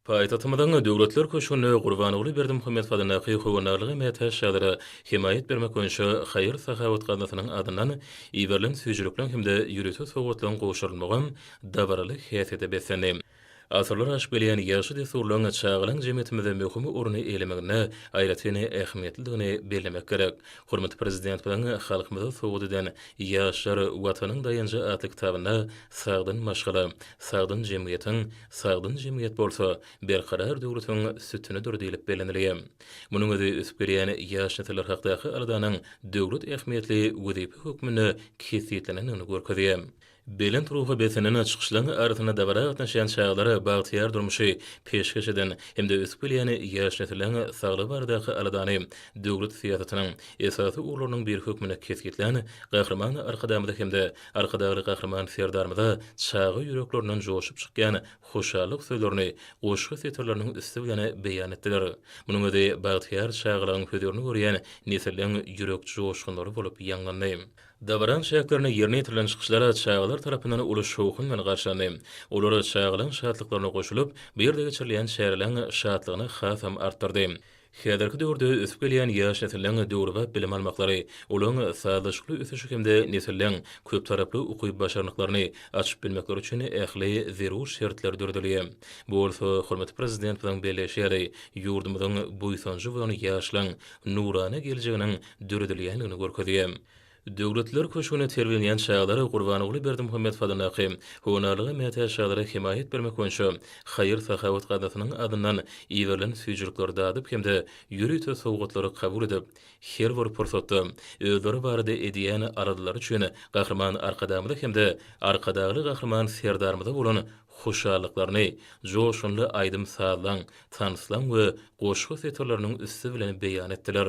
Paýtagtymyzyň Döwletler köşgünde Gurbanguly Berdimuhamedow adyndaky Howandarlyga mätäç ýagdaýlara hemaýat bermek boýunça haýyr-sahawat gaznasynyň adyndan iberilen süýjülikleriň hem-de ýörite sowgatlaryň gowşurylmagam dabaraly häsiýete beslendi. Asyrlar aşyp gelýän ýagşy dessurlaryň çagalaň jemgyýetimizde möhüm orun eýlemeginde aýratyn ähmiýetlidigini bellemek gerek. Hormatly Prezidentimiziň Halkymyza sowgat eden Ýaşlar, Watanyň daýanjy atly kitabynda sagdyn maşgala, sagdyn jemgyýetiň, Sagdyn jemgyýet bolsa, berkarar döwletiň sütünidir diýlip bellenilýär. Munuň özi ösüp gelýän ýaş nesiller hakdaky aladanyň döwlet ähmiýetli wezipe hökmünde kesgitlenendigini görkezýär. Belent ruha beslenen çykyşlaryň arasynda dabara gatnaşýan çagalara bagtyýar durmuşy peşgeş eden hem-de ösüp gelýän ýaş nesilleriň saglygy baradaky aladany döwlet syýasatynyň esasy ugurlarynyň biri hökmünde kesgitlän Gahryman Arkadagymyza hem-de Arkadagly Gahryman Serdarymyza çaga ýüreklerinden joşup çykýan hoşallyk sözlerini goşgy setirleriniň üsti bilen beýan etdiler. Munuň özi bagtyýar çagalygyň hözirini görýän nesilleriň ýürek joşgunlary bolup ýaňlandy. Dabaranyň çäklerinde ýerine ýetirilen çykyşlar çagalar tarapyndan uly şowhun bilen garşylandy. Olar çagalygyň şatlyklaryna goşulyp, bu ýerde geçirilýän çäreleriň şatlygyny hasam artdyrdy. Häzirki döwürde ösüp gelýän ýaş nesliň döwrebap bilim almaklary, olaryň sazlaşykly ösüşi hem-de nesilleň köptaraply ukyp-başarnyklaryny açyp bilmekleri üçin ähli zerur şertler döredilýär. Bu bolsa, hormatly Prezidentimiziň belleýşi ýaly, ýurdumyzyň buýsanjy bolan ýaşlaryň nurana geljeginiň döredilýändigini görkezýär. Döwletler köşgüne terbiýelenýän çagalar Gurbanguly Berdimuhamedow adyndaky Honarlyga mätäç çagalara hemaýat bermek boýunça haýyr-sahawat gaznasynyň adyndan iberilen süýjülikleri dadyp hem-de ýörite sowgatlary kabul edip, her bir pursatda özleri barada edýän aladalary üçin Gahryman Arkadagymyza hem-de Arkadagly Gahryman Serdarymyza bolan hoşallyklaryny joşgunly aýdym-sazlaň, tanslaň we goşgy setirleriniň üsti bilen beýan etdiler.